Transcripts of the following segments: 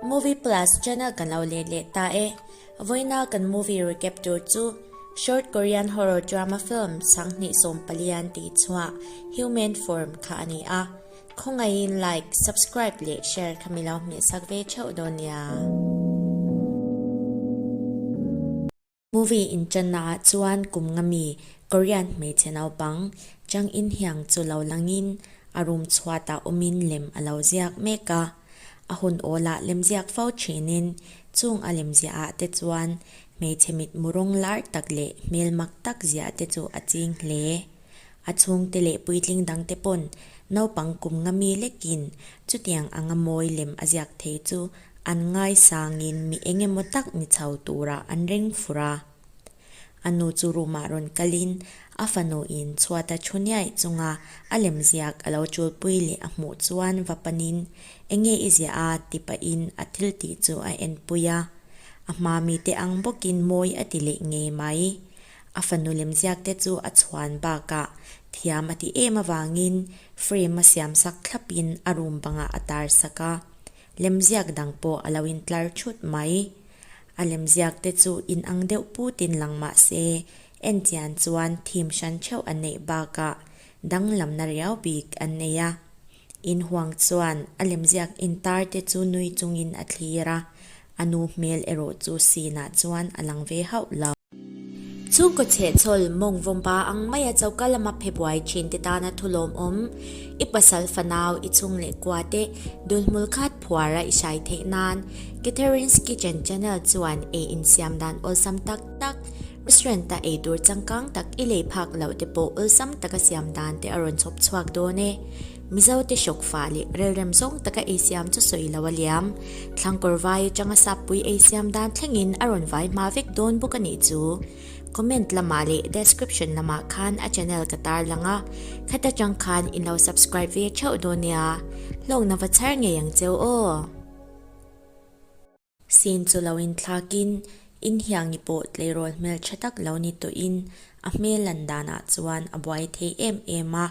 Movie Plus channel kan lo let leh ta e. Vawiinaa kan movie recap tur chu Short Korean Horror Drama Film Sanghnih Sawm Palian tih chhuah Human Form kha a ni a. Khawngaiin like, subscribe leh share kha mi lo hmeh sak ve theuh dawn nia. Movie inṭanna ah chuan kum nga mi Korean hmeichhe naupang Chang In Hyang chu lo langin a room chhuat ah awmin lem a lo ziak mek a. A hun awl ah lemziak fo ṭhinin chung a lemziah ah te chuan hmeichhe mitmu rawng lar tak leh hmel mak tak ziah te chu a ching hle. A chhungte leh puitling dang te pawn naupang kum nga mi lekin chutiang anga mawi lem a ziak thei chu An ngaisangin mi eng emaw tak ni chho turah an reng fur a. A nu chu roomah rawn kalin a fanu in chhuat a thu niai chunga a lemziak a lo chulpui leh a hmuh chuan va panin Eng nge i ziah a? ti pahin a thil tih chu a enpui a. A hma mite ang bawkin Mawi a ti leh ngei mai. A fanu lemziak te chu a chhuan bakah thiam a ti em avangin frame a siam sak thlapin a room bangah a tarsak a. lemziak dang pawh a lo in tlar thut mai. A lemziak te chu in ang deuh put in lang mah se, en chian chuan thim hran theuh an neih bak a, danglam na riau bik an nei a. In huang chuan a lemziak in tar te chu nui chung in a thlir a, a nu hmel erawh chu sin ah chuan a lang ve hauh lo. Chhung kaw chheh chawl mawng vawng pa ang maia choka lama phe buai thin te tana thu lawm awm. I pasal fanau, i chung leh kua te dulhmul khat phuar a i hrai theih nan Catherine's Kitchen channel chuan ei insiam dan awlsam tak tak, restaurant a ei tur changkang tak i lei phak loh te pawh awlsam taka siam dan te a rawn chhawp chhuak dawn e. Mizote hrawk fa leh relrem zawng taka ei siam chu sawi lo a liam. Thlangkawr vai atanga sappui ei siam dan thlengin a rawn vai hma vek dawn bawk a nih chu. Comment lamah leh description lamah khan a channel ka tar lang a, khat atang khan in lo subscribe ve theuh dawn nia. Hlawkna va chhar ngei ang che aw. Sin chu lo inthlakin, inhiang ni pawh tleirawl hmeltha tak lo ni tawhin a hmel lan danah chuan a buai thei em em a.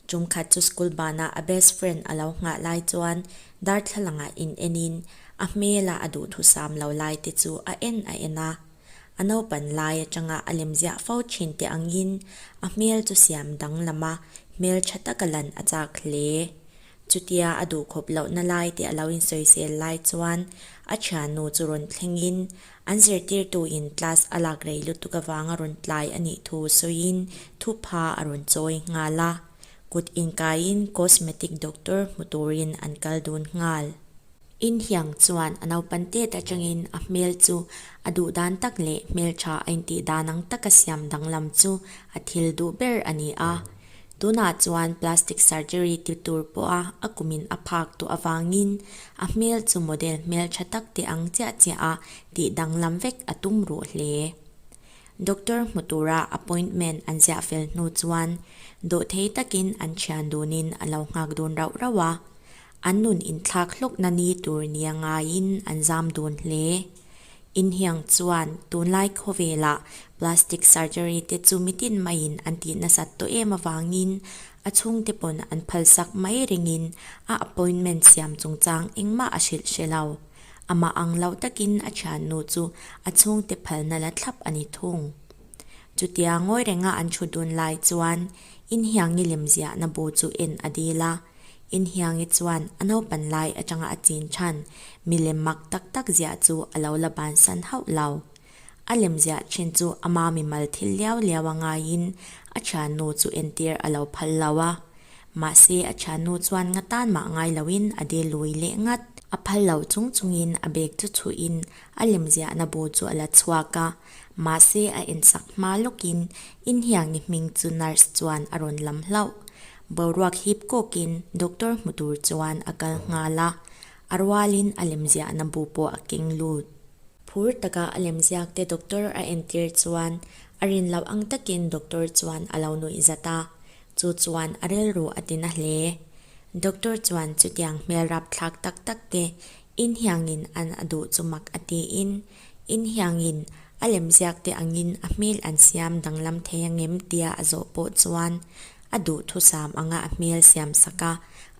Tum khat chu school banah a best friend a lo nghah lai chuan darthlalang ah in enin a hmela a duhthusam lo lai te chu a en a en a. A naupan lai atanga a lem ziah fo thin teh angin a hmel chu siam danglam a hmeltha taka lan a chak hle. Chutia a duh khawp lohna lai tih a lo insawi zel lai chuan a thian nu chu rawn thlengin an zirtirtu in class a lak rei lutuk avanga rawn tlai a nih thu sawiin thu pha a rawn chawi nghal a. Kut inkaiin cosmetic doctor hmu turin an kal dun nghal. Inhiang chuan a naupan tet atangin a hmel chu a duh dan tak leh hmeltha a intih dan ang taka siam danglam chu a thil duh ber a ni a. Tunah chuan plastic surgery ti tur pawha a kumin a phak duh avangin a hmel chu model hmeltha tak te ang chiah chiah a tih danglam vek a tum ruh hle. Doctor hmu tura appointment an ziah fel hnu chuan dawhthei takin an thian dunin a lo nghak dun rauh rauh a, An nun inthlak hlawkna ni tur nia ngaiin an zam dun hle. In Hiang chuan tunlai khawvela plastic surgery te chu mitin maiin an tih nasat tawh em avangin a chhungte pawn an phalsak mai rengin a appointment siam chungchang engmah a hrilh hre lo. Amah ang lo takin a thiannu chu a chhungte phalna la thlap a ni thung. Chutia ngawi renga an thu dun lai chuan Inhiangi lemziah na bu chu en a dil a, Inhiangi chuan a naupan lai atanga a chin than, milem mak tak tak ziah chu a lo la ban san hauh lo. A lemziah thin chu ama mimal thil liau liau a ngaiin a thiannu chu entir a lo phal lo a, mahse a thiannu chuan nga tan mah ngai loin a dil lui leh ngat. A phal lo chung chungin a bag chu chuhin a lemziah na bu chu a la chhuak a, Mahse a ensak hma lawkin inhiak ni hming chu nurse chuan a rawn lam hlauh. Boruak hip kawkin doctor hmu tur chuan a kal nghal a, a rualin a lemziahna bu pawh a keng lut. Phur taka a lemziak te doctor a entir chuan a rin loh ang takin doctor chuan a lo nuih zat a, chu chuan a rilru a tin a hle. Doctor chuan chutiang hmelrap thlak tak tak te inhiaknin an a duh chu mak a tiin Inhiangin, a lemziakte angin a hmel an siam danglam thei angem tia a zawh pawh chuan a duhthusam anga a hmel siam sak a,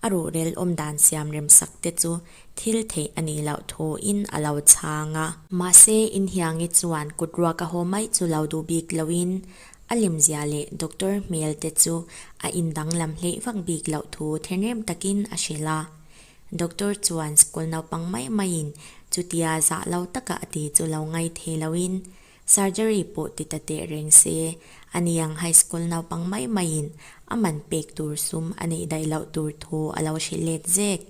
a ruhrel awm dan siam rem sak te chu thil theih a nih loh thuin a lo chhang a. Mahse, Inhiangi chuan kut ruak a haw mai chu lo duh bik loin a lemzia leh doctor hmel te chu a indanglam hleih vak bik loh thu thenrem takin a hrilh a. Doctor chuan school naupang mai maiin chutia zah lo taka a ti chu lo ngai thei loin, Surgery pawh ti ta teh reng se, aniang high school naupang mai maiin a man pek tur sum a neih daih loh tur thu a lo hrilh let zek.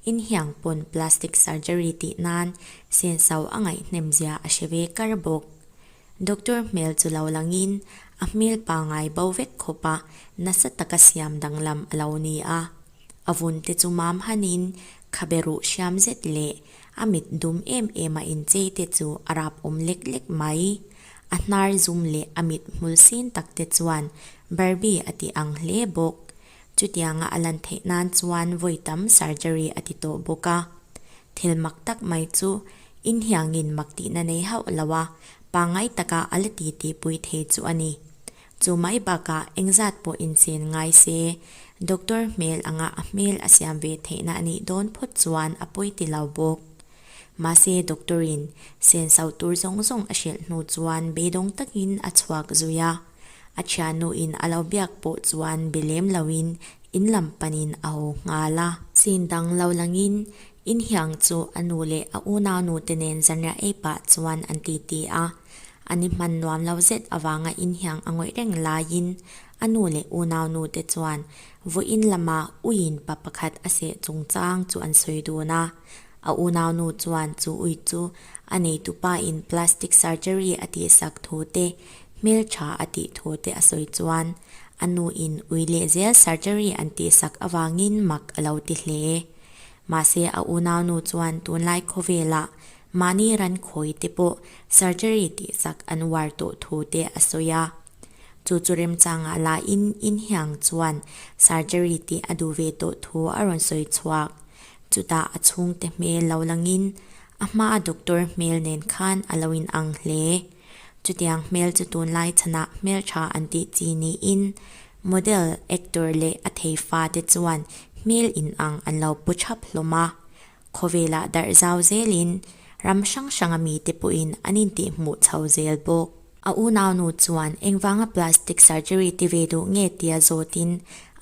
Inhiang pawn plastic surgery tih nan sensau a ngaih hnemzia a hre ve kar bawk. Doctor hmel chu lo langin a hmil pangai bo vek khawpa nasa taka siam danglam a lo ni a. A vunte chu mam hanin kha beruh hriam zet leh a mit dum em em a incheite chu a rap awm lek lek mai. A hnar zum leh a mit hmul sin takte chuan Barbie a ti ang hle bawk. Chutianga a lan theih nan chuan vawi tam surgery a ti tawh bawk a. Thil mak tak mai chu inhiangin mak tihna nei hauh lo a, pangngai taka a la titi pui thei chu a ni. Chu mai bakah engzat pawh inchen ngai se, doctor hmel angah a hmel a siam ve theihna a nih dawn phawt chuan a pawi ti lo bawk. Mahse doctor-in senso tur zawng zawng a hrilh hnu chuan beidawng takin a chhuak zui a, a thiannuin a lo biak pawh chuan be lem loin in lam panin a haw nghal a. Chin dang lo langin Inhiang chu a nu leh a unaunute nen zanriah ei pah chuan an titi a, A ni hman nuam lo zet avanga inhiang a ngawih reng laiin a nu leh unau nute chuan vawiin lama uiin pa pakhat a seh chungchang chu an sawi dun a. A unau nu chuan chu ui chu a neitu pain plastic surgery a tihsak thu te, hmeltha a tih thu te a sawi chuan a nuin ui leh zel surgery an tihsak avangin mak a lo ti hle. Mahse a unau nu chuan tunlai khawvelah Mahni ran khawi te pawh surgery tih zak an uar tawh thu te a sawi a. Chu chu remchangah la in in hiang chuan surgery tih a duh ve tawh thu a rawn sawi chhuak. Chutah a chhungte hmel lo langin a hmaa doctor hmel nen khan a lo in ang hle. Chutiang hmel chu tunlai chhanah hmeltha an tih chi niin model, actor leh a theifa te chuan hmel in ang an lo pu thap hlawm a. Khawvela darh zau zelin ram hrang hranga mite pawhin an intih hmuh chho zel bawk. A unaunu chuan engvanga plastic surgery ti ve duh nge tia zawtin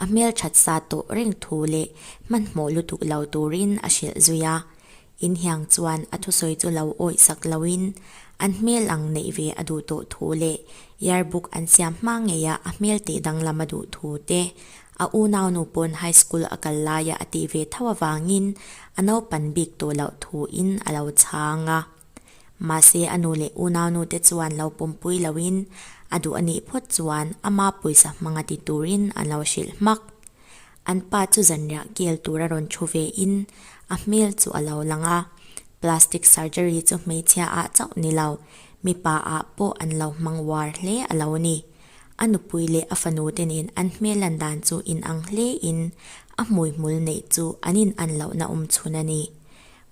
a hmelthat sa tawh reng thu leh hmanhmawh lutuk lo turin a hrilh zui a. In hiang chuan a thusawi chu lo awih sak loin an hmel ang neih ve a duh tawh thu leh yearbook an siam hma ngeiah a hmelteh danglam a duh thu te A unau nu pawn high school a kal laia a tih ve tho avangin a naupan bik tawh loh thuin a lo chhang a. Mahse a nu leh unau nu te chuan lo pumpui loin a duh a nih phawt chuan ama pawisa hmanga ti turin an lo hrilh hmak. An pa chu zanriah kel tur a rawn thu vein a hmel chu a lo lang a, plastic surgery chu hmeichhia ah chauh ni lo, mipa ah pawh an lo hmang uar hle a lo ni. a nupui leh a fanu te nen an hmel an dan chu in ang hle in a hmuihmul neih chu an in an loh na awm chhun a ni.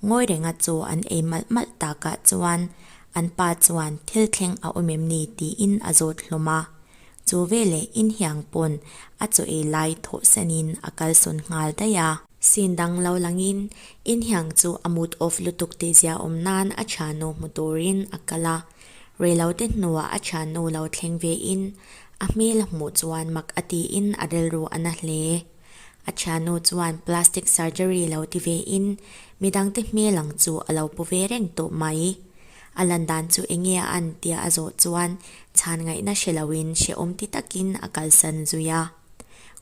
Ngawirenga chu an ei malh malh tak ah chuan an pa chuan thil thleng a awm em ni tiin a zawt hlawm a, chu vele in hiang pawn a chaw ei lai thawh san in a kal sawn nghal daih a. Sin dang lo lang in in hiang chu a mood off lutuk tih zia awm nan a tha naw hmu tur in a kal a. Reilote hnuah a ṭha nu lo thleng ve in a hmel a hmuh chuan mak a ti in a relru a na hle. A ṭha nu chuan plastic surgery lo ti ve in mi dangte hmel ang chu a lo pu ve reng tawh mai. A lan dan chu eng nge a an tia a zawh chuan chhanngaihna hre lo in hrehawm ti tak in a kalsan zui a.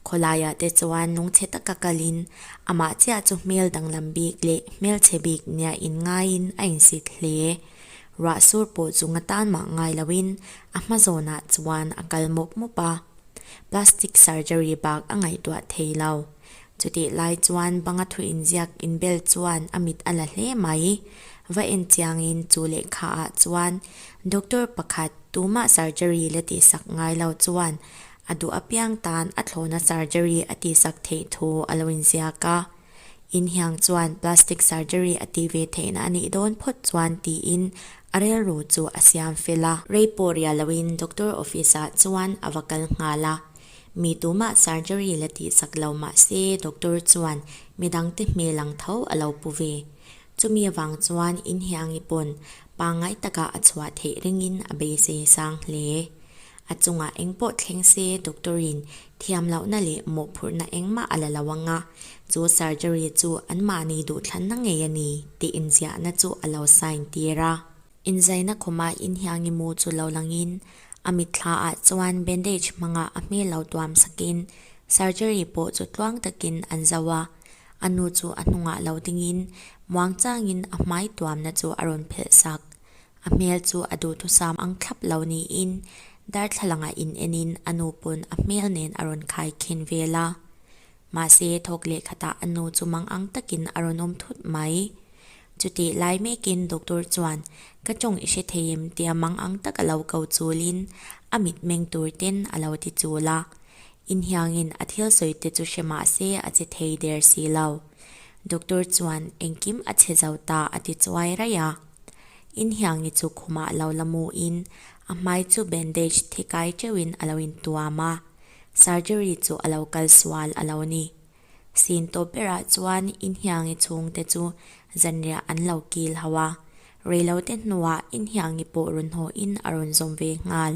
Khawlaiah te chuan lung chhe taka kalin amah chiah chu hmel danglam bik leh hmelchhe bik nia in ngaiin a insit hle. Ruah sur pawh chu nga tan mah ngai loin a hma zawnah chuan a kal mawp mawp a. Plastic surgery bak a ngaihtuah thei lo. Chutih lai chuan banga thu inziak inbel chuan a mit a la hle mai. Va en chiangin chu lehkhaah chuan doctor pakhat tumah surgery la tihsak ngai lo chuan A duh apiang tan a thlawna surgery a tihsak theih thu a lo inziak a. In hiang chuan plastic surgery a ti ve theihna a nih dawn phawt chuan tiin a relru chu a siam fel a. Rei pawh riah loin doctor office ah chuan a va kal nghal a. Mi tumah surgery la tihsak lo mah se doctor chuan midangte hmel ang tho a lo pu ve. Chumi avang chuan in hiangi pawn pangngai takah a chhuah theih rengin a beisei sang hle. A chungah eng pawh thleng se doctor-in thiam lohna leh mawhphurhna engmah a la lo ang a, chu surgery chu anmahni duhthlanna ngei a ni tih inziahna chu a lo sign tir a. Inzaina khawma inhiangi mu chu lo langin a mitthlaah chuan bandage hmangah a hmel lo tuam sakin surgery pawh chu tluang takin an zo a. A nu chu a hnungah lo dingin muangchangin a hmai tuamna chu a rawn phelh sak. A hmel chu a duhthusam ang thlap lo niin darthlalangaih inenin a nu pawn a hmel nen a rawn khai khen vel a. Mahse, thawk leh khatah a nu chu mang ang takin a rawn awm thut mai. Chutih lai mekin doctor chuan, Ka tawng i hre thei em tia mang ang tak a lo ko chulin a mitmeng tur ten a lo ti chul a. Inhiangin a thil sawi te chu hre mahse a che thei der si lo. Doctor chuan engkim a chhe zo ta a ti chuai raih a, Inhiang ni chu khumah lo la mu in a hmai chu bandage thi kai teuhin a lo in tuam a, surgery chu a lo kal sual a lo ni. Sin tawp berah chuan Inhiang i chhungte chu zanriah an lo kil hauh a, rei lo te hnuah Inhiang ni pawh run haw in a rawn zawm ve nghal.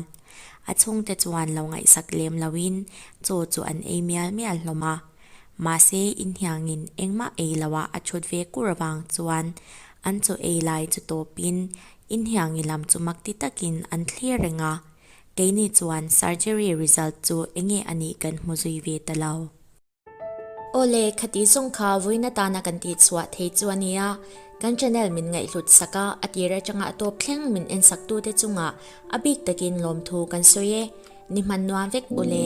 A chhungte chuan lo ngaihsak lem lo in chaw chu an ei mial mial hlawm a, Mahse, inhniangin engmah ei lohah a chhut ve kur avang chuan an chaw ei lai chu tawpin inhniangi lam chu makti takin an thlir reng a. Keini chuan surgery result chu eng nge a nih kan hmu zui ve ta lo. Awle, khati zawng kha vawiin atana kan tihchhuah thei chu a ni a, kan channel min ngaihhlut sak a, a tir atanga a tawp thleng min en saktute chungah a bik takin lawmthu kan sawi e, ni hman nuam vek u le.